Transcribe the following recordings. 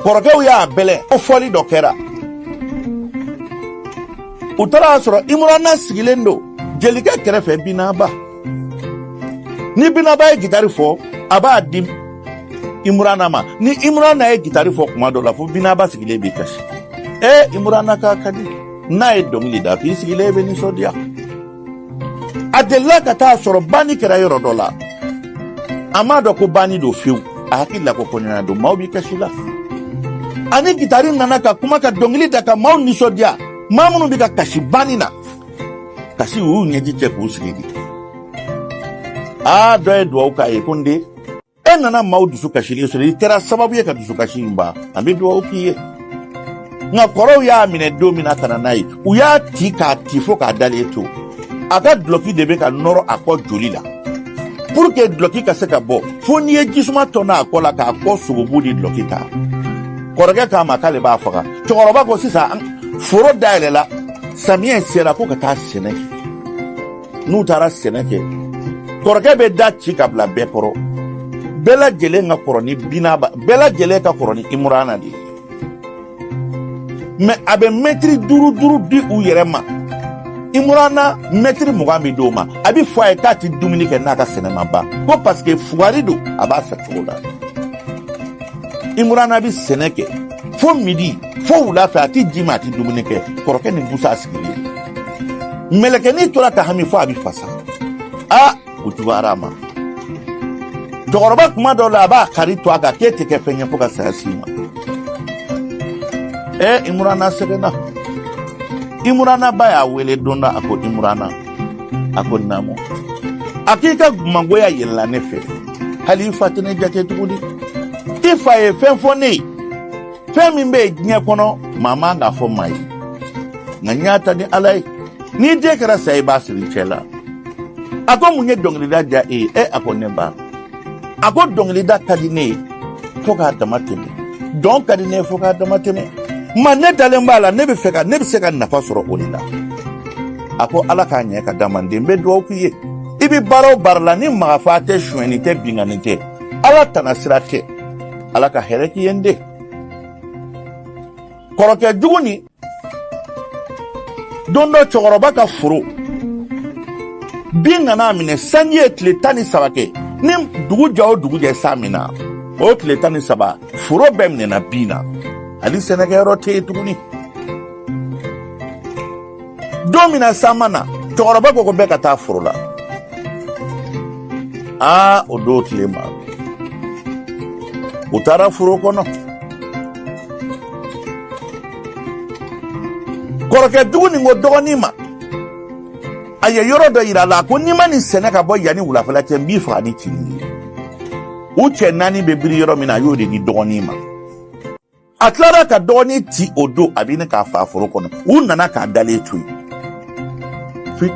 kɔrɔkɛw y'a bɛlɛn ko fɔli dɔ kɛra u taara a sɔrɔ imurana sigilen don jelikɛ kɛrɛfɛ binaba ni binaba ye gitari fɔ a b'a di imurana ma ni imurana ye gitari fɔ kuma dɔ la fo binaba sigilen b'i kasi ee imurana kan ka di n'a ye dɔnkili da fo i sigilen bɛ nisɔndiya a delila ka taa sɔrɔ banni kɛra yɔrɔ dɔ la a m'a dɔn ko banni don fewu a hakili la ko kɔɲɔ na don maaw b'i kasi la a ni gitari nana ka kuma ka dɔnkili da ka maaw nisɔndiya maa minnu bɛ ka kasi banni na kasi u y'u ɲɛji cɛ k'u sigi de aa dɔ ye dugawu k'a ye ko n den e nana maaw dusu kasilen sɔrɔ i kɛra sababu ye ka dusukasi in ban an bɛ dugawu k'i ye nka kɔrɔw y'a minɛ don min na ka na n'a ye u y'a ti k'a ti fo k'a dalen to a ka dulɔki de bɛ ka nɔrɔ a kɔ joli la pour que dulɔki ka se ka bɔ fo n'i ye ji suma tɔni a kɔ la k'a kɔ sogobu ni dulɔki ta kɔrɔkɛ k'a ma k'ale b'a faga cɛkɔrɔba ko sisan foro dayɛlɛla samiyɛ sera ko ka taa sɛnɛ kɛ n'u taara sɛnɛ kɛ kɔrɔkɛ bɛ da ci ka bila bɛɛ kɔrɔ bɛɛ lajɛlen ka kɔrɔ ni binaba bɛɛ lajɛlen ka kɔrɔ ni imurana de ye mɛ a bɛ mɛtiri duuru duuru di u yɛrɛ ma imurana mɛtiri mugan bɛ d'o ma a bɛ fɔ a ye k'a tɛ dumuni kɛ n'a ka sɛnɛ ma ban ko paseke fugari don a b'a fɛ cogo la imurana bɛ sɛnɛ kɛ fo midi fo wula fɛ a tɛ ji min a tɛ dumuni kɛ kɔrɔkɛ ni busa sigilen mɛlɛkɛnin tora ka hami fo a bɛ fasa a ko juguyara a ma cɛkɔrɔba kuma dɔw la a b'a kaari tu a kan k'e tɛ kɛ fɛn ye fo ka saya s'i ma ɛ imurana sɛgɛnna imurana ba y'a wele don dɔ a ko imurana a ko naamu a k'i ka mangoya yɛlɛla ne fɛ hali i fa tɛ ne jate tuguni i fa ye fɛn fɔ ne ye fɛn min bɛ yen diɲɛ kɔnɔ maa man k'a fɔ maa ye nka n y'a ta ni ala ye n'i den kɛra sa ye i b'a siri i cɛ la a ko mun ye dɔnkilida diya e ye e a ko ne ba a ko dɔnkilida ka di ne ye fo k'a dama tɛmɛ dɔn ka di ne ye fo k'a dama tɛmɛ ma ne dalen b'a la ne bɛ fɛ ka ne bɛ se ka nafa sɔrɔ o de la a ko ala k'a ɲɛ ka d'an ma n den n bɛ dugawu k'i ye i bɛ baara o baara la ni mɔgɔfaga tɛ sonyɛni tɛ binkanni tɛ ala tana sira tɛ ala ka hɛrɛ k'i ye n den kɔrɔkɛ jugu nin don dɔ cɛkɔrɔba ka foro bin nana a minɛ sanji ye tile tan ni saba kɛ ni dugu jɛ o dugu jɛ san bɛ na o tile tan ni saba foro bɛɛ minɛna bin na hali sɛnɛkɛyɔrɔ tɛ yen tuguni don min na san ma na cɛkɔrɔba ko ko bɛɛ ka taa foro la aa o don tile ma u taara foro kɔnɔ kɔrɔkɛ jugu nin ko dɔgɔnin ma a ye yɔrɔ dɔ yira a la ko n'i ma nin sɛnɛ ka bɔ yanni wulafɛla cɛ n b'i faga ni cini ye u cɛ naani bɛ biri yɔrɔ min na a y'o de di dɔgɔnin ma a tilara ka dɔgɔnin ti o don a bɛ ɲini k'a faa foro kɔnɔ u nana k'a dalen to yen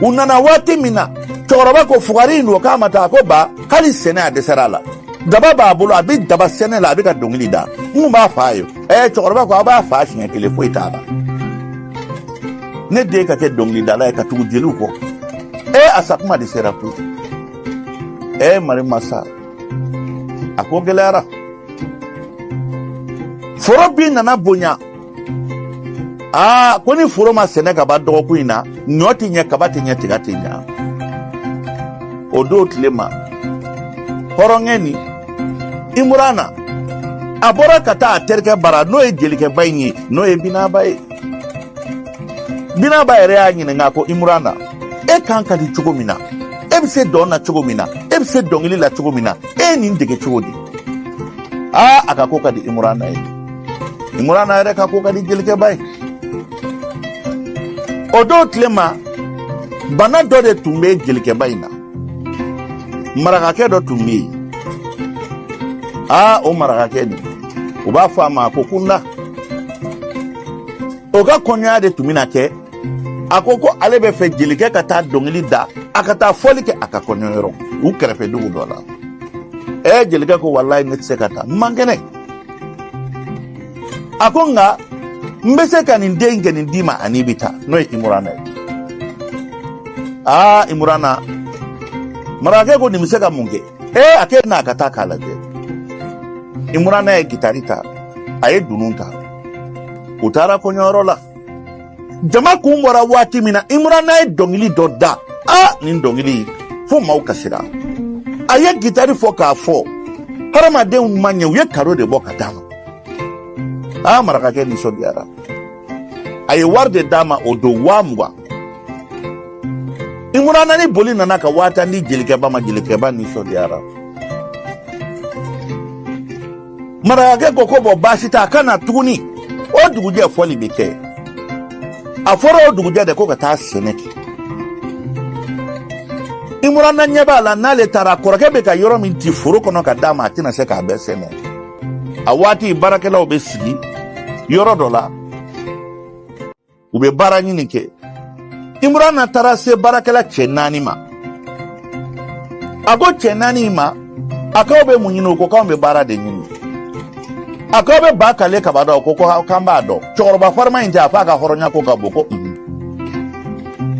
u nana waati min na cɛkɔrɔba ko fugari in don k'a ma taa a ko ba hali sɛnɛ a dɛsɛra a la daba b'a bolo a bɛ daba sɛnɛ la a bɛ ka dɔnkili da n kun b'a faa yen ɛɛ cɛkɔrɔba ko a b'a faa siɲɛ kelen foyi t'a la ne den ka kɛ dɔnkilidala ye ka tugu jeliw kɔ ee a sakuma de sera koyi ee mari masa a ko gɛlɛyara foro bin nana bonya aa ko ni foro ma sɛnɛ ka ban dɔgɔkun in na ɲɔ tɛ ɲɛ kaba tɛ ɲɛ tiga tɛ ɲɛ o don tile ma hɔrɔnkɛ nin imurana a bɔra ka taa a terikɛ bara n'o ye jelikɛba in ye n'o ye binaba ye binaba yɛrɛ y'a ɲininka ko imurana e kan ka di cogo min na e bɛ se dɔn na cogo min na e bɛ se dɔnkili la cogo min na e ye nin dege cogo di aa a ka ko ka di imurana ye imurana yɛrɛ ka ko ka di jelikɛba ye o don tile ma bana dɔ de tun bɛ jelikɛba in na marakakɛ dɔ tun bɛ yen aa o marakakɛ nin u b'a fɔ a ma ko kunda o ka kɔɲɔya de tun bɛna kɛ a ko ko ale b'a fɛ jelikɛ ka taa dɔnkili da a ka taa fɔli kɛ a ka kɔɲɔyɔrɔ u kɛrɛfɛ dugu dɔ la ɛ jelikɛ ko walayi ne tɛ se ka taa n man kɛnɛ a ko nka n bɛ se ka nin denkɛ nin d'i ma a n'i bɛ taa n'o ye imurana ye aa imurana marakakɛ ko nin bɛ se ka mun kɛ ee a k'e n'a ka taa k'a lajɛ imurana ye gitari ta a ye dunun ta u taara kɔɲɔyɔrɔ la jama kun bɔra waati min na imurana ye dɔngili dɔ da a nin dɔngili fo maaw kasira a ye gitari fɔ k'a fɔ hadamadenw ma ɲɛ u ye kado de bɔ ka d'a ma aa marakakɛ nisɔndiyara a ye wari de d'a ma o don waa mugan imurana ni boli nana ka waa tan di jelikɛba ma jelikɛba nisɔndiyara marakakɛ ko ko bɔn baasi t'a ka na tuguni o dugujɛ fɔli bɛ kɛ a fɔra o dugujɛ de ko ka taa sɛnɛ kɛ imurana ɲɛ b'a la n'ale taara kɔrɔkɛ bɛ ka yɔrɔ min ti foro kɔnɔ ka d'a ma a tɛna se k'a bɛɛ sɛnɛ a waati baarakɛlaw bɛ sigi yɔrɔ dɔ la u bɛ baara ɲini kɛ imurana taara se baarakɛla cɛ naani ma a ko cɛ naani ma a k'aw bɛ mun ɲini u ko k'anw bɛ baara de ɲini a k'aw bɛ ba kale kaba dɔn ko k'an b'a dɔn cɛkɔrɔba farima in tɛ a fɔ a ka hɔrɔnya ko ka bon ko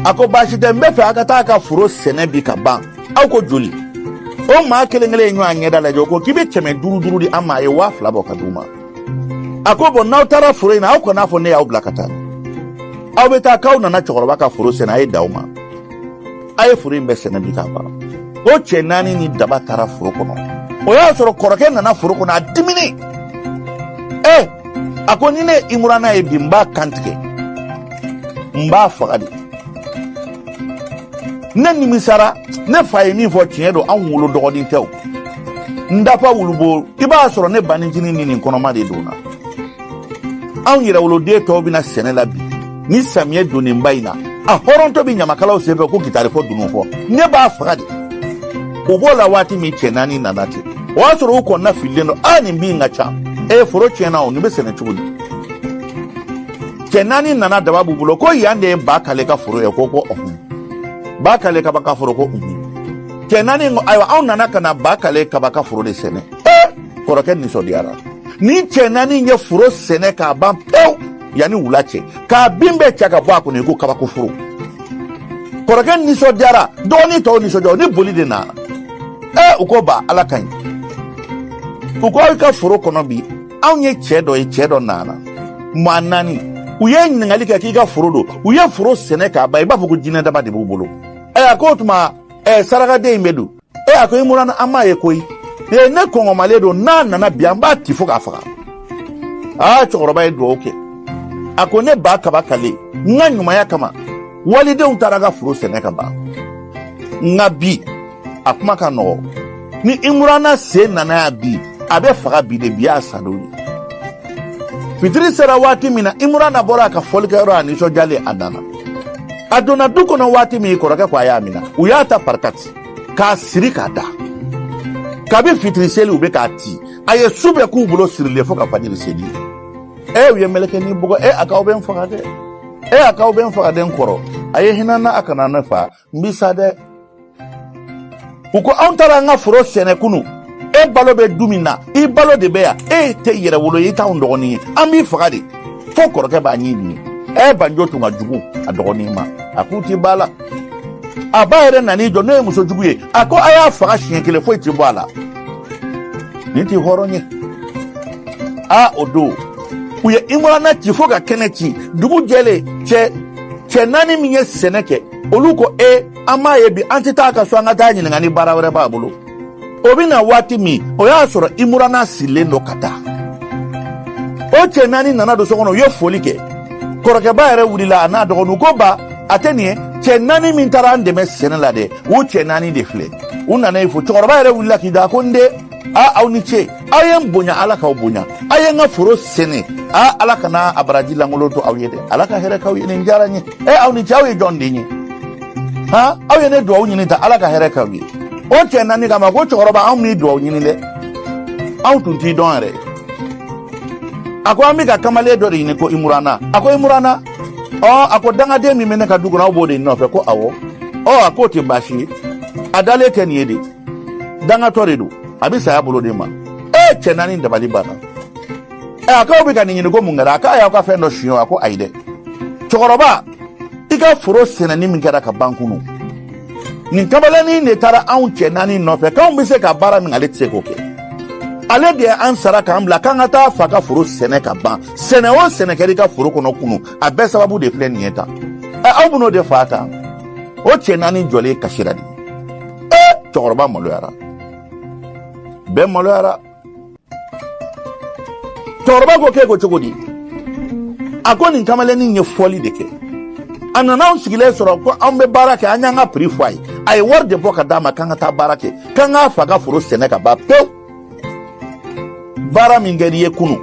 a ko baasi tɛ n b'a fɛ a ka taa ka foro sɛnɛ bi k'a ban aw ko joli o maa kelen kelen ye ɲɔgɔn ɲɛda lajɛ o ko k'i bɛ kɛmɛ duuru duuru di an ma a ye waa fila bɔ k'a d'u ma a ko bɔn n'aw taara foro in na aw kan'a fɔ ne y'aw bila ka taa aw bɛ taa k'aw nana cɛkɔrɔba ka foro sɛnɛ a ye da aw ma a ye foro in bɛɛ sɛnɛ bi k'a ban o cɛ naani ni daba taara foro kɔnɔ o y'a sɔrɔ kɔrɔkɛ nana foro kɔnɔ a diminen ɛ a ko ni ne imurana ye bi n b'a kantigɛ n b'a faga de ne nimisara ne fa ye min fɔ tiɲɛ don anw wolo dɔgɔnin tɛ o n dafa wulubo i b'a sɔrɔ ne banincinin ni nin kɔnɔma de donna anw yɛrɛwoloden tɔw bɛ na sɛnɛ la bi nin samiyɛ donnenba in na a hɔrɔntɔ bɛ ɲamakalaw senfɛ ko gitari fɔ dunun fɔ ne b'a faga de u b'o la waati min cɛ naani nana ten o y'a sɔrɔ u kɔnɔna fililen don a nin bin ka ca ee foro tiɲɛna o nin bɛ sɛnɛ cogo di cɛ naani nana daba b'u bolo ko yan de ye ba kale ka foro ye ko ko ɔhun ba kale kaba ka foro ko ɔhun cɛ naani ayiwa anw nana ka na ba kale kaba ka foro de sɛnɛ kɔrɔkɛ nisɔndiyara nin cɛ naani ye foro sɛnɛ k'a ban pewu yanni wula cɛ k'a bin bɛɛ cɛ k'a bɔ a kɔnɔ i ko kabako foro kɔrɔkɛ nisɔndiyara dɔgɔnin tɔw nisɔndiya ni boli de nana ee u ko ba ala ka ɲi u ko aw ka foro kɔnɔ bi anw ye cɛ dɔ ye cɛ dɔ nana maa naani u ye ɲininkali kɛ k'i ka foro don u ye foro sɛnɛ k'a ban i b'a fɔ ko jinɛ dama de b'u bolo ɛ a ko o tuma ɛ sarakaden in bɛ don e a ko imurana an m'a ye koyi ee ne kɔngɔmalen don n'a nana bi an b'a ti fo k'a faga aa cɛkɔrɔba ye dugawu kɛ a ko ne ba kaba kale n ka ɲumanya kama walidenw taara n ka foro sɛnɛ k'a ban nka bi a kuma ka nɔgɔ ni imurana sen nana yan bi a bɛ faga bi de bi y'a sadon ye fitiri sera waati min na imurana bɔra a ka fɔlikɛyɔrɔ a nisɔndiyalen a nana a donna du kɔnɔ waati min kɔrɔkɛ ko a y'a mina u y'a ta parikati k'a siri k'a da kabi fitiri seli u bɛ k'a ti a ye su bɛɛ k'u bolo sirilen fo ka fajiri seli e u y'a mɛlɛkɛ ni bɔgɔ ye a k'aw bɛ n faga dɛ e a k'aw bɛ n faga dɛ n kɔrɔ a ye hinɛ n na a kana ne fa n bi sa dɛ u ko anw taara an ka foro sɛnɛ kunu e balo bɛ du min na i balo de bɛ yan e tɛ yɛrɛwolo ye i t'anw dɔgɔnin ye an b'i faga de fo kɔrɔkɛ b'a ɲɛ ɲini ɛ banjo tun ka jugu a dɔgɔnin ma a k'u ti b'a la a ba yɛrɛ nan'i jɔ n'o ye muso jugu ye a ko a y'a faga siɲɛ kelen foyi ti bɔ a la nin ti hɔrɔn ye a o don u ye imurana ci fo ka kɛnɛ ci dugu jɛlen cɛ cɛ naani min ye sɛnɛ kɛ olu ko e an m'a ye bi an tɛ taa a ka so an ka taa a ɲininka ni baara wɛrɛ b'a bolo o bɛ na waati min o y'a sɔrɔ imurana sirilen don ka da o cɛ naani nana don so kɔnɔ u ye foli kɛ kɔrɔkɛba yɛrɛ wulila a n'a dɔgɔninw ko ba a tɛ nin ye cɛ naani min taara an dɛmɛ sɛnɛ la dɛ u cɛ naani de filɛ u nana i fo cɛkɔrɔba yɛrɛ wulila k'i da ko n den a aw ni ce aw ye n bonya ala k'aw bonya aw ye n ka foro sɛnɛ a ala kana a baraji lankolon to aw ye dɛ ala ka hɛrɛ k'aw ye nin diyara n ye ɛ aw ni ce aw ye jɔn den ye han aw ye ne duwawu ɲini tan ala ka hɛrɛ k'aw ye o cɛ naani k'a ma ko cɛkɔrɔba anw m'i duwawu ɲini dɛ anw tun t'i dɔn yɛrɛ a ko an bɛ ka kamalen dɔ de ɲini ko imurana a ko imurana ɔ a ko dangaden min bɛ ne ka du kɔnɔ aw b'o de nɔfɛ ko awɔ ɔ a k'o tɛ baasi ye a dalen tɛ nin ye de dangatɔ de don a bɛ saya bolo de ma e cɛ naani dabali banna ɛ a k'aw bɛ ka nin ɲini ko mun kɛra a k'a y'aw ka fɛn dɔ suɲɛ wa ko ayi dɛ cɛkɔrɔba i ka foro sɛnɛni min kɛra ka ban kunu nin kamalennin de taara anw cɛ naani nɔfɛ k'anw bɛ se ka baara min ale tɛ se k'o kɛ ale de ye an sara k'an bila k'an ka taa a fa ka foro sɛnɛ ka ban sɛnɛ o sɛnɛ kɛra i ka foro kɔnɔ kunu a bɛɛ sababu de filɛ nin ye tan ɛ aw bɛn'o de faga tan o cɛ naani jɔlen kasira de cɛkɔrɔba maloyara bɛɛ maloyara cɛkɔrɔba ko k'e ko cogo di a ko nin kamalennin ye fɔli de kɛ a nana anw sigilen sɔrɔ ko anw bɛ baara kɛ an y'an ka piri fɔ a ye a ye wari de bɔ ka d'an ma k'an ka taa baara kɛ k'an k'a fa ka foro sɛnɛ ka ban pewu baara min kɛr'i ye kunu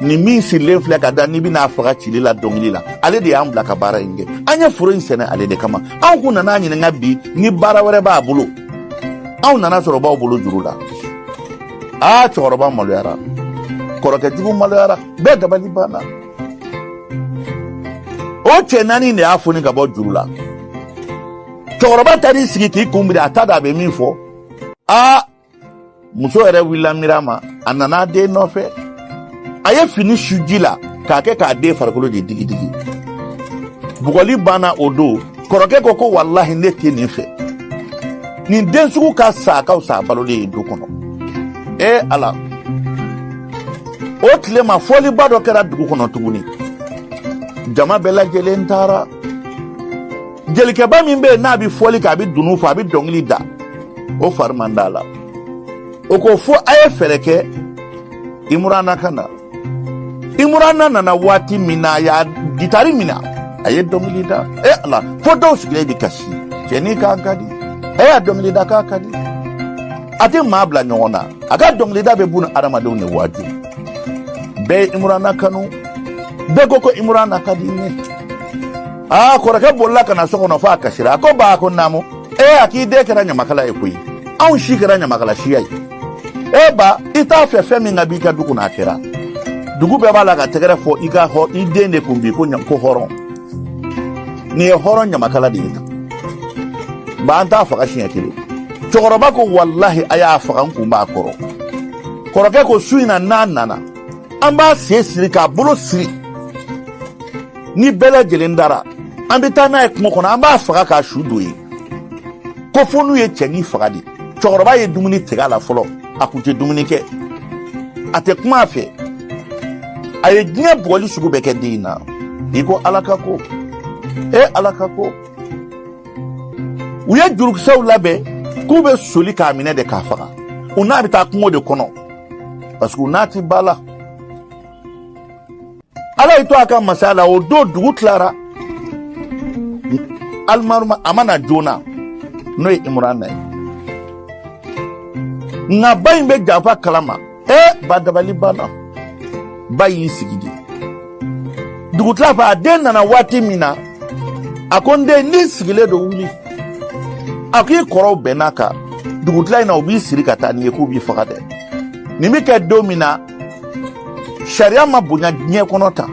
nin min sirilen filɛ ka da n'i bɛn'a faga cili la dɔnkili la ale de y'an bila ka baara in kɛ an ye foro in sɛnɛ ale de kama anw kun nan'a ɲininka bi ni baara wɛrɛ b'a bolo anw nan'a sɔrɔ a b'aw bolo juru la aa cɛkɔrɔba maloyara kɔrɔkɛ jugu maloyara bɛɛ dabali banna o cɛ naani de y'a foni ka bɔ juru la cɛkɔrɔba taar'i sigi k'i kun biri a t'a dɔn a bɛ min fɔ aa muso yɛrɛ wulila miiri ma a nana a den nɔfɛ a ye fini su ji la k'a kɛ k'a den farikolo de digidigi bugɔli banna o don kɔrɔkɛ ko ko walahi ne tɛ nin fɛ nin den sugu ka sa ka fisa balolen ye du kɔnɔ ee ala o tile ma fɔliba dɔ kɛra dugu kɔnɔ tuguni jama bɛɛ lajɛlen taara jelikɛba min bɛ yen n'a bɛ fɔli kɛ a bɛ dunun fɔ a bɛ dɔnkili da o fari man d'a la o ko fo a ye fɛɛrɛ kɛ imurana ka na imurana nana waati min na a y'a gitari minɛ a ye dɔnkili da e ala fo dɔw sigilen bɛ kasi cɛnin kan ka di a y'a dɔnkili da kan ka di a tɛ maa bila ɲɔgɔn na a ka dɔnkilida bɛ bunadamadenw de waaju bɛɛ ye imurana kanu bɛɛ ko ko imurana ka di ne aa kɔrɔkɛ bolila ka na so kɔnɔ fo a kasira a ko baa ko naamu ee a k'i den kɛra ɲamakala ye koyi anw si kɛra ɲamakala siya ye e ba i t'a fɛ fɛn min ka b'i ka du kɔnɔ a kɛra dugu bɛɛ b'a la ka tɛgɛrɛ fɔ i ka hɔ i den de kun bi ko ko hɔrɔn nin ye hɔrɔn ɲamakala de ye tan ba an t'a faga siɲɛ kelen cɛkɔrɔba ko walahi a y'a faga n kun b'a kɔrɔ kɔrɔkɛ ko su in na n'a nana an b'a sen siri k'a bolo siri ni bɛɛ lajɛlen dara an bɛ taa n'a ye kungo kɔnɔ an b'a faga k'a su don yen ko fo n'u ye cɛnin faga dɛ cɛkɔrɔba ye dumuni tigɛ a la fɔlɔ a kun tɛ dumuni kɛ a tɛ kuma a fɛ a ye diɲɛ bugɔli sugu bɛɛ kɛ den in na i ko ala ka ko e ala ka ko u ye jurukisɛw labɛn k'u bɛ soli k'a minɛ de k'a faga u n'a bɛ taa kungo de kɔnɔ parce que u n'a tɛ ba la ala y'a to a ka masaya la o don dugu tilara alimaruma a ma na joona n'o ye imurana ye nka ba in bɛ janfa kalama ee ba dabali banna ba y'i sigi de dugutila fɛ a den nana waati min na a ko n den n'i sigilen don wuli a k'i kɔrɔw bɛnn'a kan dugutila in na u b'i siri ka taa n'i ye k'u b'i faga dɛ nin bɛ kɛ don min na sariya ma bonya diɲɛ kɔnɔ tan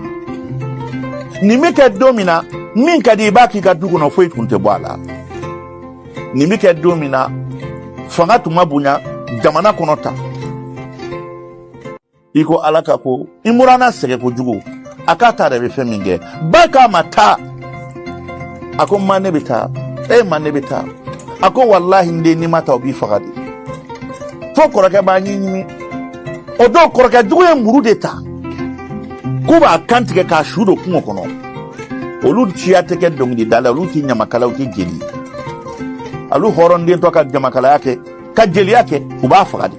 nin bɛ kɛ don min na min ka di i b'a k'i ka du kɔnɔ foyi tun tɛ bɔ a la nin bɛ kɛ don min na fanga tun ma bonya jamana kɔnɔ tan i ko ala ka ko imurana sɛgɛ kojugu a k'a ta yɛrɛ bɛ fɛn min kɛ ba k'a ma taa a ko ma ne bɛ taa e ma ne bɛ taa a ko walahi n den n'i ma taa u b'i faga dɛ fo kɔrɔkɛ b'a ɲin ɲimi o don kɔrɔkɛ jugu ye muru de ta k'u b'a kan tigɛ k'a su don kungo kɔnɔ olu siya tɛ kɛ dɔnkilidala olu ti ɲamakala u ti jeli olu hɔrɔndentɔ ka ɲamakalaya kɛ ka jeliya kɛ u b'a faga de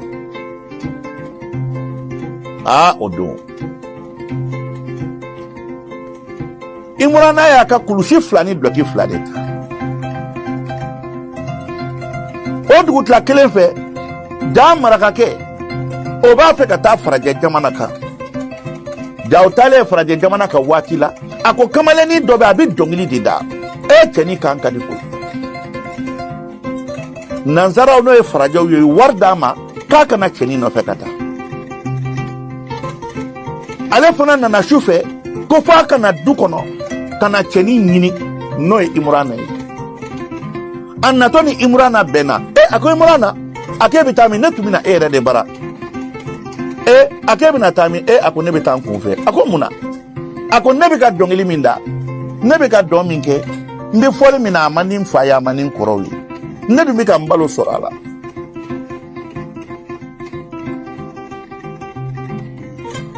aa o don imurana y'a ka kulusi fila ni dulɔki fila de ta o dugutila kelen fɛ jaa marakakɛ o b'a fɛ ka taa farajɛ jamana kan ja o taalen farajɛ jamana kan waati la a ko kamalennin dɔ bɛ a bɛ dɔnkili de da e cɛnin kan ka di koyi nansaraw n'o ye farajɛw ye ye wari d'a ma k'a ka na cɛnin nɔfɛ ka taa ale fana nana su fɛ ko f'a ka na du kɔnɔ ka na cɛnin ɲini n'o ye imurana ye a natɔ ni imurana bɛnna e a ko imurana a k'e bɛ taa min ne tun bɛ na e yɛrɛ de bara e a k'e bɛna taa min e a ko ne bɛ taa n kun fɛ a ko mun na a ko ne bɛ ka dɔnkili min da ne bɛ ka dɔn min kɛ n bɛ fɔli min na a man di n fa ye a man di n kɔrɔw ye ne dun bɛ ka n balo sɔrɔ a la